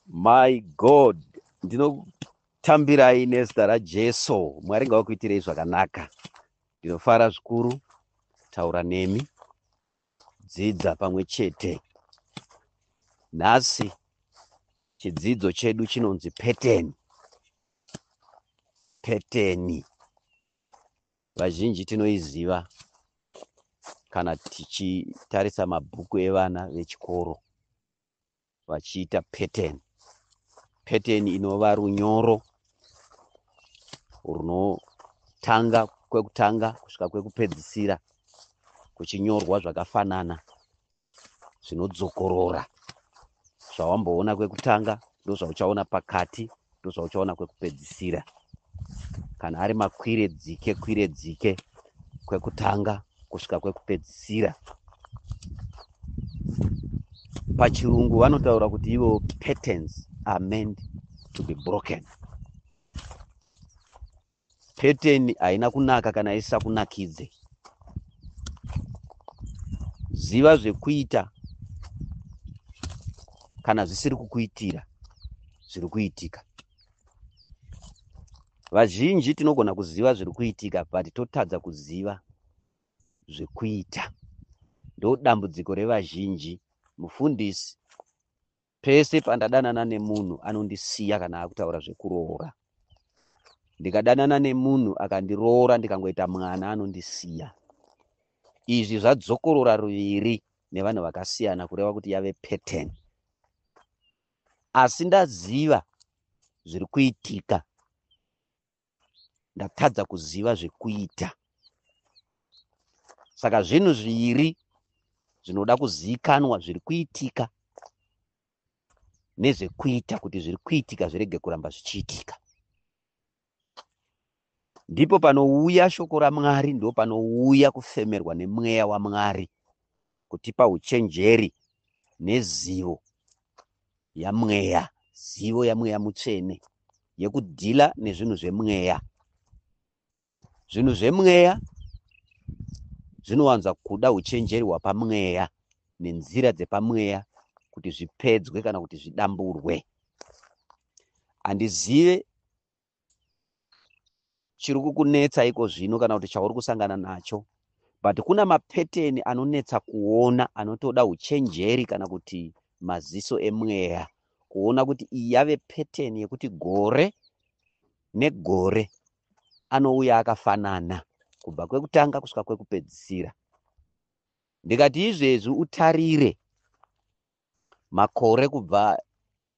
My God, ndinokutambirai nezita raJesu. Mwari ngawakuitirei zvakanaka. Ndinofara zvikuru taura nemi. Dzidza pamwe chete. Nhasi chidzidzo chedu chinonzi pattern. Pattern. Vazhinji tinoiziva kana tichitarisa mabhuku evana vechikoro. vachiita pattern pattern inova runyoro runotanga kwekutanga kusvika kwekupedzisira kuchinyorwa zvakafanana zvinodzokorora zvawamboona kwekutanga ndozvauchaona pakati ndozvauchaona kwekupedzisira kana ari makwire dzike kwire dzike kwekutanga kusvika kwekupedzisira pachirungu vanotaura kuti ivo patterns are meant to be broken Pattern haina kunaka kana isisakunakidze. Ziva zvekuita kana zvisiri kukuitira zviri kuitika. Vazhinji tinogona kuziva zviri kuitika but totadza kuziva zvekuita. Ndodambudziko revazhinji. Mufundisi Pese pandadanana nemunhu anondisiya kana akutaura zvekuroora. Ndikadanana nemunhu akandiroora ndikangoita mwana anondisiya. Izvi zvadzokorora ruviri nevanhu vakasiyana kureva kuti yave pattern. Asi ndaziva zviri kuitika ndatadza kuziva zvekuita saka zvinhu zviri zvinoda kuzivikanwa zviri kuitika nezvekuita kuti zviri kuitika zvirege kuramba zvichiitika ndipo panouya shoko ramwari ndo panouya kufemerwa nemweya wamwari kutipa uchenjeri nezivo yamweya zivo yamweya mutsvene yekudhila nezvinhu zvemweya zvinhu zvemweya zvinowanza kuda uchenjeri hwapamweya nenzira dzepamweya kuti zvipedzwe kana kuti zvidamburwe handizive chiri kukunetsa iko zvino kana kuti chauri kusangana nacho but kuna mapeteni anonetsa kuona anotoda uchenjeri kana kuti maziso emweya kuona kuti iyi yave peteni yekuti gore negore anouya akafanana kubva kwekutanga kusvika kwekupedzisira ndikati izvezvi utarire makore kubva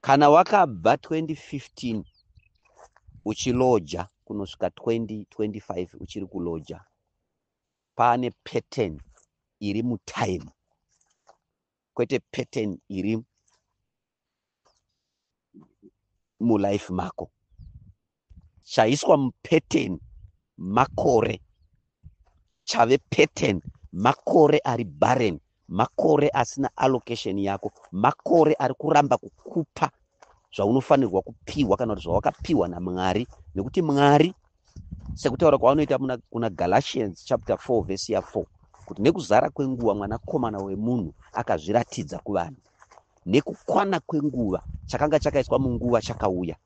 Kana wakabva 2015 uchiloja kunosvika 2025 uchiri kuloja, pane pattern iri mutime kwete pattern iri mulife mako. chaiswa mupattern makore chave pattern makore ari barren makore asina allocation yako makore ari kuramba kukupa zvaunofanirwa kupiwa kana kuti zvawakapiwa namwari nekuti mwari sekutaura kwavanoita kuna galatians chapter 4 vhesi ya 4 kuti nekuzara kwenguva mwanakomana wemunhu akazviratidza kuvanhu nekukwana kwenguva chakanga chakaiswa munguva chakauya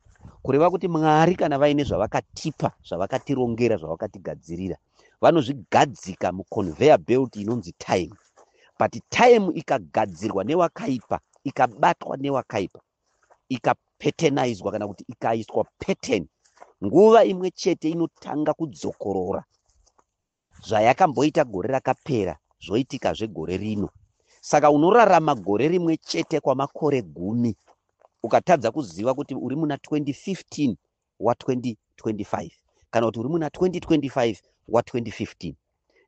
kureva kuti mwari kana vaine zvavakatipa zvavakatirongera zvavakatigadzirira vanozvigadzika muconveyor belt inonzi time but time ikagadzirwa newakaipa ikabatwa newakaipa ikapetenidzwa kana kuti ikaiswa pattern nguva imwe chete inotanga kudzokorora Zvayakamboita gore rakapera zvoitikazve gore rino. Saka unorarama gore rimwe chete kwamakore gumi ukatadza kuziva kuti uri muna 2015 wa 2025 kana kuti uri muna 2025 wa 2015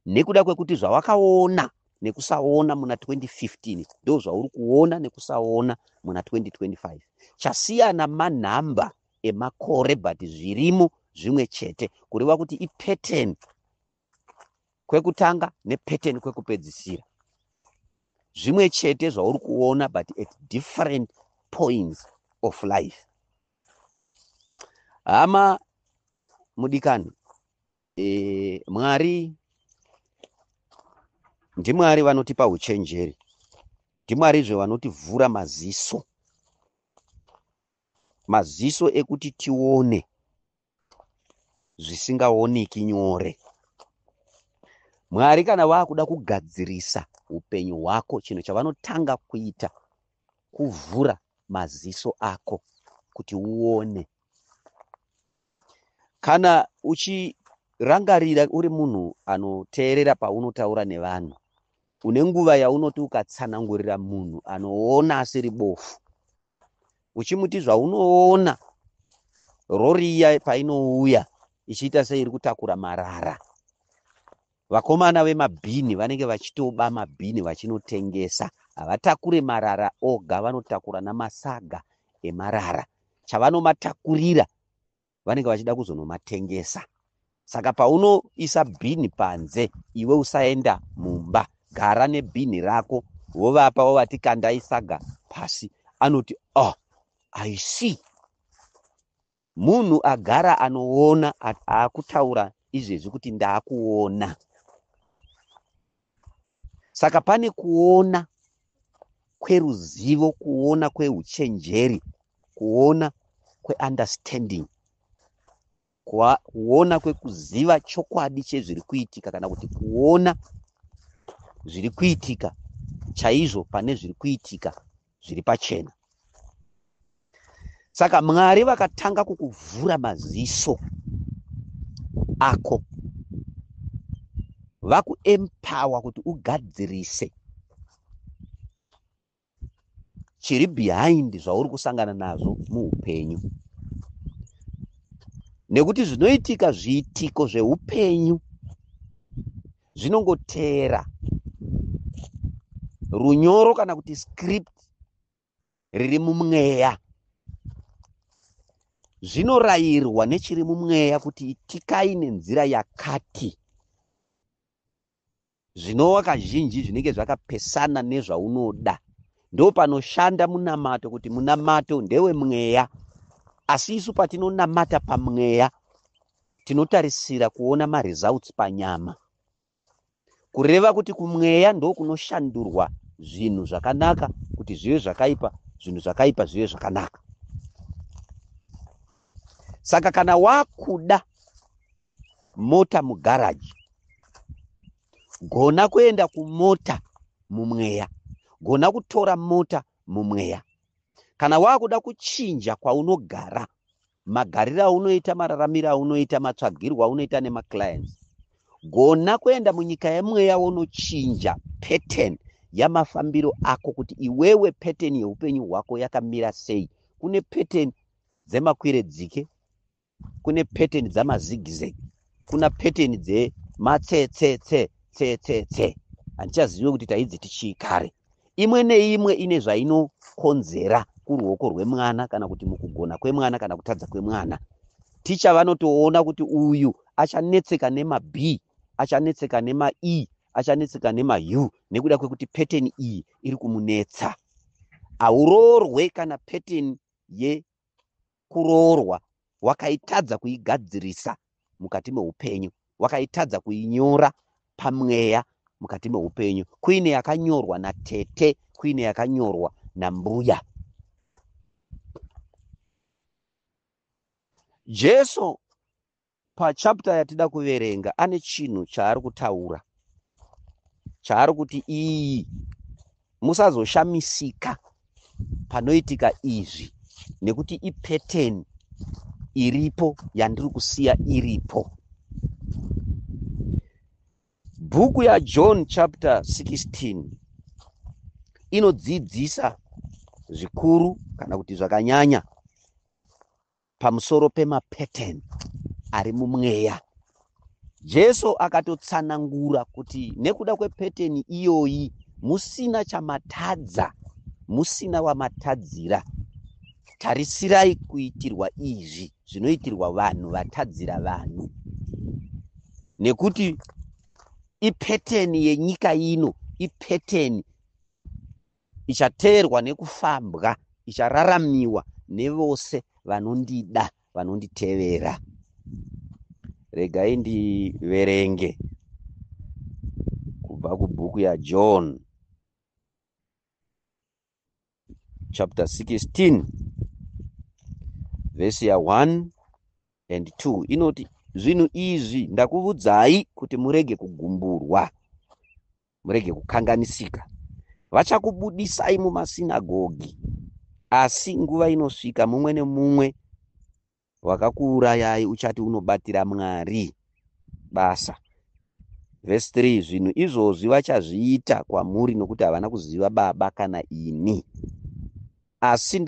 nekuda kwekuti zvawakaona nekusaona muna 2015 ndo zvauri kuona nekusaona muna 2025 chasiyana manhamba emakore but zvirimo zvimwe chete kureva kuti ipattern kwekutanga nepattern kwekupedzisira zvimwe chete zvauri kuona but at different points of life hama mudikani e, mwari ndimwari vanotipa uchenjeri ndimwarizve vanotivhura maziso Maziso ekuti tione zvisingaoneki nyore. Mwari kana vakuda kugadzirisa upenyu hwako, chinhu chavanotanga kuita kuvhura maziso ako kuti uone. Kana uchirangarira uri munhu anoteerera paunotaura nevanhu, une nguva yaunoti ukatsanangurira munhu anoona asiri bofu, uchimuti zvaunoona rori iya painouya ichiita seiri kutakura marara vakomana vemabhini vanenge vachitoba mabhini vachinotengesa havatakure marara oga vanotakura namasaga emarara chavanomatakurira vanenge vachida kuzonomatengesa saka paunoisa bhini panze iwe usaenda mumba gara nebhini rako wovapa wovati kandai saga pasi anoti oh i see munhu agara anoona akutaura izvezvi kuti ndakuona saka pane kuona kweruzivo kuona kweuchenjeri kuona kweunderstanding kuona kwekuziva chokwadi chezviri kuitika kana kuti kuona zviri kuitika chaizvo pane zviri kuitika zviri pachena saka mwari vakatanga kukuvhura maziso ako vakuempower kuti ugadzirise chiri behind zvauri kusangana nazvo muupenyu nekuti zvinoitika zviitiko zveupenyu zvinongoteera runyoro kana kuti script riri mumweya zvinorayirwa nechiri mumweya kuti itikai nenzira yakati zvinova kazhinji zvinenge zvakapesana nezvaunoda ndo panoshanda munamato kuti munamato ndewe mweya asi isu patinonamata pamweya Tinotarisira kuona maresults panyama. Kureva kuti kumweya ndokunoshandurwa zvinhu zvakanaka kuti zvive zvakaipa, zvinhu zvakaipa zvive zvakanaka. Saka kana wakuda mota mugaraji, gona kuenda kumota mumweya, gona kutora mota mumweya. Kana wakuda kuchinja kwaunogara, magariro aunoita mararamiro aunoita matsvagirwo aunoita nemaclients gona kuenda munyika yemweya wonochinja pattern yamafambiro ako kuti iwewe pattern yeupenyu hwako yakamira sei kune pattern dzemakwire dzike kune pattern dzamazigizegi kuna pattern dze matsetsetse tsetsetse handichazive kuti taidziti chii kare imwe neimwe ine zvainokonzera kuruoko rwemwana kana kuti mukugona kwemwana kana kutadza kwemwana ticha vanotoona kuti uyu achanetseka nemab achanetseka nemae achanetseka nemahu nekuda kwekuti pattern iyi iri kumunetsa hauroorwe kana pattern ye kuroorwa wakaitadza kuigadzirisa mukati meupenyu wakaitadza kuinyora pamweya mukati meupenyu kuine yakanyorwa natete kuine yakanyorwa nambuya jesu Pachapter yatida kuverenga ane chinhu chaari kutaura chaari kuti iyi musazoshamisika panoitika izvi nekuti ipeteni iripo yandiri kusiya iripo bhuku yajohn chapter 16 inodzidzisa zvikuru kana kuti zvakanyanya pamusoro pemapattern ari mumweya. Jesu akatotsanangura kuti nekuda kwepeteni iyoyi musina chamatadza, musina wamatadzira. Tarisirai kuitirwa izvi zvinoitirwa vanhu vatadzira vanhu, nekuti ipeteni yenyika ino, ipeteni ichateerwa nekufambwa, ichararamiwa nevose vanondida, vanonditevera. Regai ndiverenge kubva kubhuku yaJohn chapter 16 vhesi ya 1 and 2 inoti zvinhu izvi ndakuvudzai kuti murege kugumburwa murege kukanganisika vachakubudisai mumasinagogi asi nguva inosvika mumwe nemumwe wakakuurayai uchati unobatira mwari basa vhesi 3 zvinhu izvozvi vachazviita kwamuri nokuti havana kuziva baba kana ini asi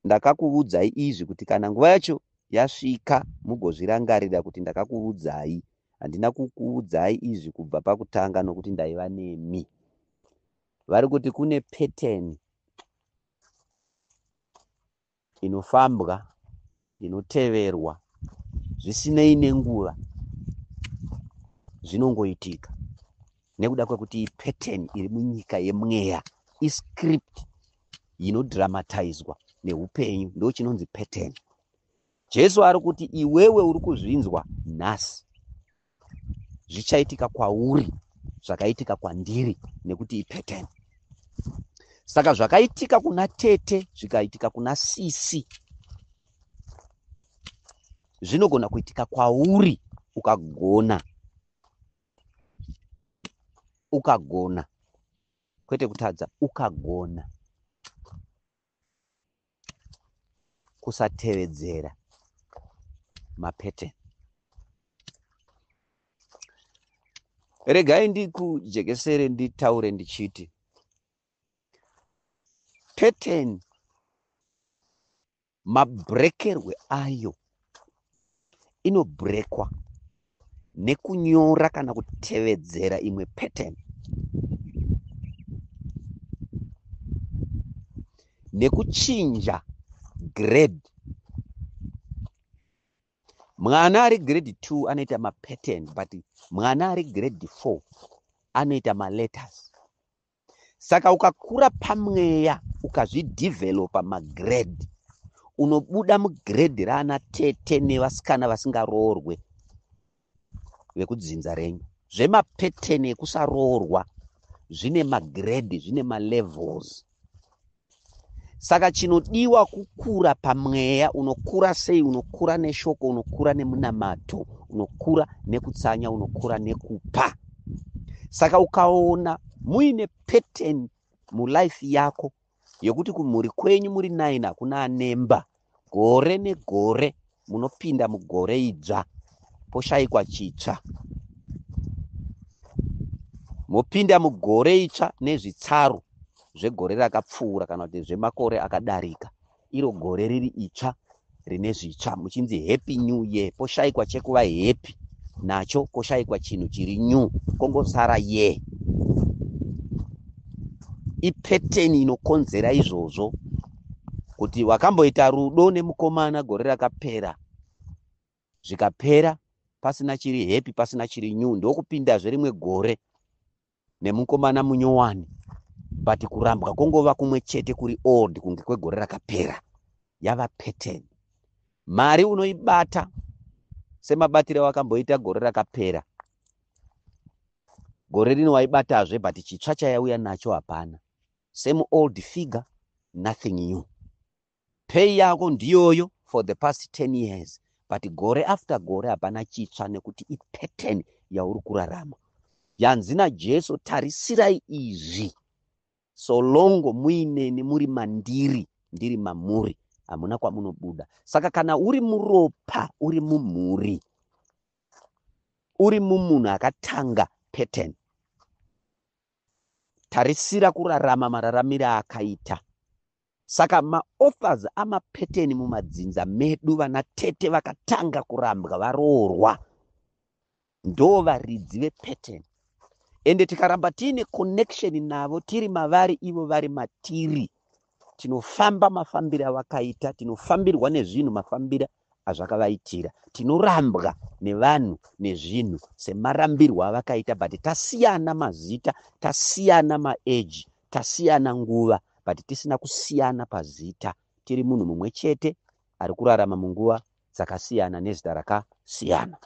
ndakakuvudzai izvi kuti kana nguva yacho yasvika mugozvirangarira kuti ndakakuvudzai handina kukuudzai izvi kubva pakutanga nokuti ndaiva nemi vari kuti kune pattern inofambwa inoteverwa zvisinei nenguva zvinongoitika nekuda kwekuti pattern iri munyika yemweya iscript inodramatizwa neupenyu ndo chinonzi pattern jesu ari kuti iwewe uri kuzvinzwa nhasi zvichaitika kwauri zvakaitika kwandiri nekuti ipattern saka zvakaitika kuna tete zvikaitika kuna sisi zvinogona kuitika kwauri ukagona ukagona kwete kutadza ukagona kusatevedzera mapateni regai ndikujekesere nditaure ndichiti pateni Mabrekerwe ayo inobrekwa nekunyora kana kutevedzera imwe pattern nekuchinja grade mwana ari grade two anoita mapattern but mwana ari grade four anoita maletters saka ukakura pamweya ukazvidevelopa magrade unobuda mugrade raana tete nevasikana vasingaroorwe vekudzinza renyu zvemapeteni ekusaroorwa zvine magrade zvine malevels saka chinodiwa kukura pamweya unokura sei unokura neshoko unokura nemunamato unokura nekutsanya unokura nekupa saka ukaona muine pattern mulife yako yekuti kumhuri kwenyu muri nine hakuna anemba gore negore munopinda mugore idzva poshaikwa chitsva mopinda mugore itsva nezvitsaru zvegore rakapfuura kana kuti zvemakore akadarika iro gore riri itsva rine zvitsva muchinzi happy new year poshaikwa chekuva happy nacho koshaikwa chinhu chiri new kongosara ye ipeteni inokonzera izvozvo kuti wakamboita rudo nemukomana gore rakapera zvikapera pasina chiri happy pasina chiri new ndokupindazve rimwe gore nemukomana munyowani but kurambwa kwongova kumwe chete kuri old kunge kwegore rakapera yava pattern mari unoibata semabatire wakamboita gore rakapera gore rino waibatazve but chitsva chayauya nacho hapana same old figure nothing new pay yako ndiyoyo for the past 10 years but gore after gore hapana chitsva nekuti ipattern yauri kurarama yanzi najesu tarisirai izvi so longo muineni muri mandiri ndiri mamuri hamuna kwamunobuda saka kana uri muropa uri mumhuri uri mumunhu akatanga pattern Tarisira kurarama mararamire akaita. Saka maauthors amapeteni mumadzinza medu vana tete vakatanga kurambwa varoorwa ndoo varidzi vepeteni ende tikaramba tiine connection navo tiri mavari ivo vari matiri tinofamba mafambire avakaita tinofambirwa nezvinhu mafambire azvakavaitira tinorambwa nevanhu nezvinhu semarambirwo avakaita but tasiyana mazita tasiyana maeji tasiyana nguva but tisina kusiyana pazita tiri munhu mumwe chete ari kurarama munguva dzakasiyana nezita rakasiyana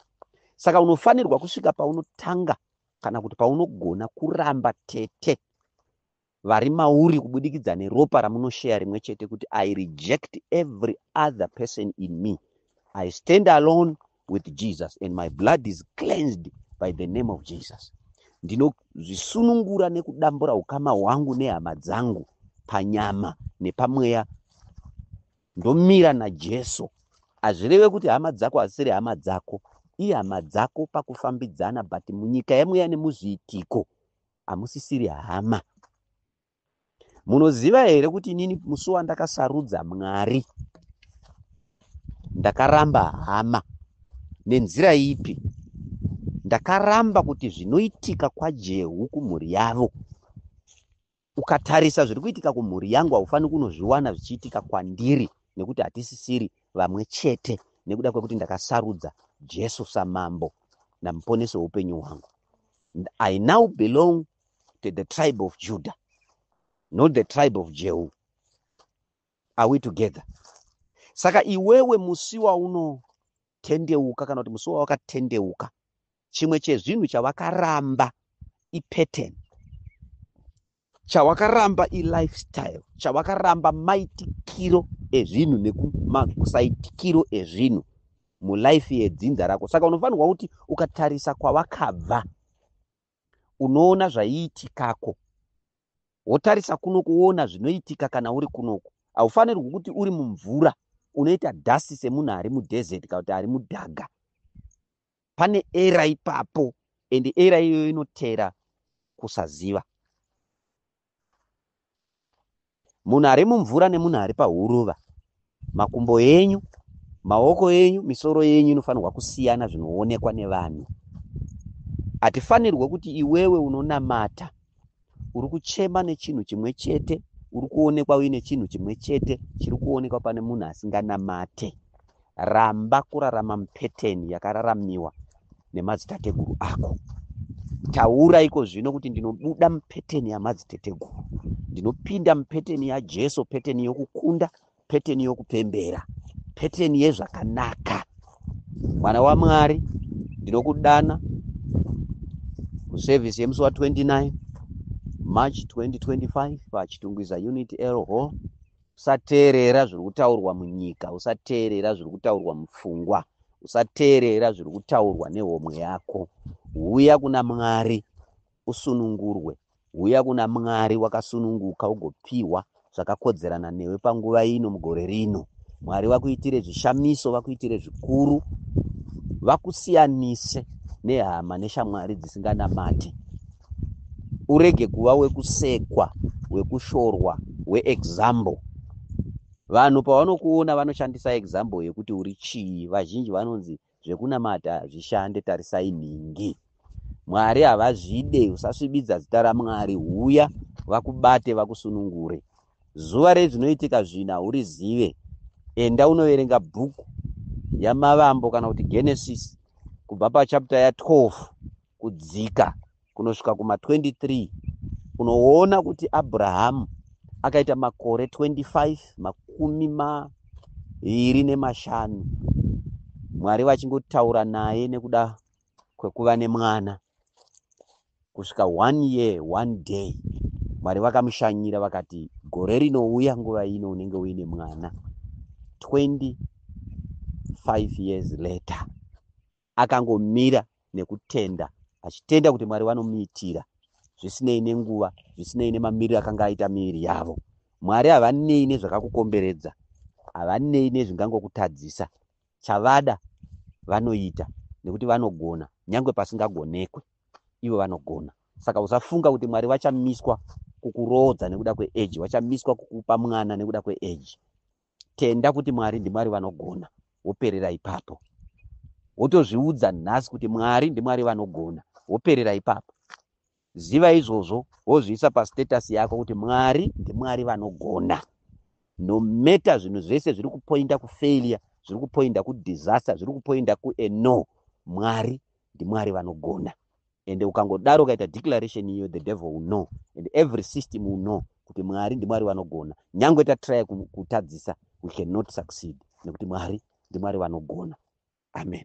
saka unofanirwa kusvika paunotanga kana kuti paunogona kuramba tete vari mauri kubudikidza neropa ramunosheya rimwe chete kuti i reject every other person in me i stand alone with jesus and my blood is cleansed by the name of jesus ndinozvisunungura nekudambura ukama hwangu nehama dzangu panyama nepamweya ndomira najesu hazvireve kuti hama dzako hazisiri hama dzako ihama dzako pakufambidzana but munyika yemweya nemuzviitiko hamusisiri hama munoziva here kuti inini musi wandakasarudza mwari ndakaramba hama nenzira ipi ndakaramba kuti zvinoitika kwajehu kumhuri yavo ukatarisa zviri kuitika kumhuri yangu haufaniri kunozviwana zvichiitika kwandiri nekuti hatisisiri vamwe chete nekuda kwekuti ndakasarudza jesu samambo namuponesi weupenyu hwangu And I now belong to the tribe of Judah, not the tribe of Jehu. Are we together? Saka iwewe musi waunotendeuka kana kuti musi wawakatendeuka, chimwe chezvinhu chavakaramba ipattern. chawakaramba ilifestyle chawakaramba maitikiro ezvinhu nekumasaitikiro ezvinhu mulife yedzinza rako saka unofanirwa kuti ukatarisa kwavakabva unoona zvaiitikako wotarisa kuno kuona zvinoitika kana uri kunoku haufanirwi kuti uri mumvura unoita dasi semunhu ari mudhezeti kana kuti ari mudhaga pane era ipapo and era iyoyo inotera kusaziva munhu ari mumvura nemunhu ari pahuruva makumbo enyu maoko enyu misoro yenyu inofanirwa kusiyana zvinoonekwa nevanhu hatifanirwe kuti iwewe unonamata uri kuchema nechinhu chimwe chete uri kuonekwa uine chinhu chimwe chete chiri kuonekwa pane munhu asinganamate ramba kurarama mupeteni yakararamiwa nemadzitateguru ako taura iko zvino kuti ndinobuda mupeteni yamadziteteguru ndinopinda mupeteni yajesu peteni yokukunda peteni yokupembera peteni yezvakanaka mwana wamwari ndinokudana kusevhisi yemusi wa 29 march 2025 pachitungwiza unit l hall usateerera zviri kutaurwa munyika usateerera zviri kutaurwa mupfungwa usateerera zviri kutaurwa nehomwe yako huya kuna mwari usunungurwe. Huya kuna Mwari wakasununguka ugopiwa zvakakodzerana newe panguva ino mugore rino. Mwari vakuitire zvishamiso, vakuitire zvikuru, vakusiyanise nehama neshamwari dzisinganamati. Urege kuva wekusekwa, wekushorwa, weexample. Vanhu pavanokuona vanoshandisa example yekuti uri chii. Vazhinji vanonzi zvekunamata zvishande tarisai nhingi mwari havazvide usasvibidza zita ramwari huya vakubate vakusunungure zuva rei zvinoitika zvina urizive enda unoverenga bhuku yamavambo kana kuti genesis kubva pachapta ya12 kudzika kunosvika kuma 23 unoona kuti abrahamu akaita makore 25 makumi mairi nemashanu mwari vachingotaura naye nekuda kwekuva nemwana kusvika one year one day mwari vakamushanyira vakati gore rinouya nguva ino unenge uine mwana 25 years later Akangomira nekutenda, achitenda kuti Mwari vanomuitira zvisinei nenguva, zvisinei nemamiriro akanga aita miviri yavo. Mwari havanei nezvakakukomberedza, havanei nezvingangokutadzisa. Chavada vanoita nekuti vanogona, nyangwe pasingagonekwe, ivo vanogona. Saka usafunga kuti Mwari vachamiswa kukuroodza nekuda kweeji, vachamiswa kukupa mwana nekuda kweeji. tenda kuti mwari ndimwari vanogona woperera ipapo wotozviudza nhasi kuti mwari ndimwari vanogona woperera ipapo ziva izvozvo wozviisa pastatus yako kuti mwari ndimwari vanogona nometa zvinhu zvese zviri kupoinda kufailure zviri kupoinda kudisaster zviri kupoinda kueno mwari ndimwari vanogona and ukangodaro ukaita declaration iyo the devil will know and every system will know kuti mwari ndimwari vanogona nyange tatraya kutadzisa we cannot succeed nekuti mwari ndimwari vanogona amen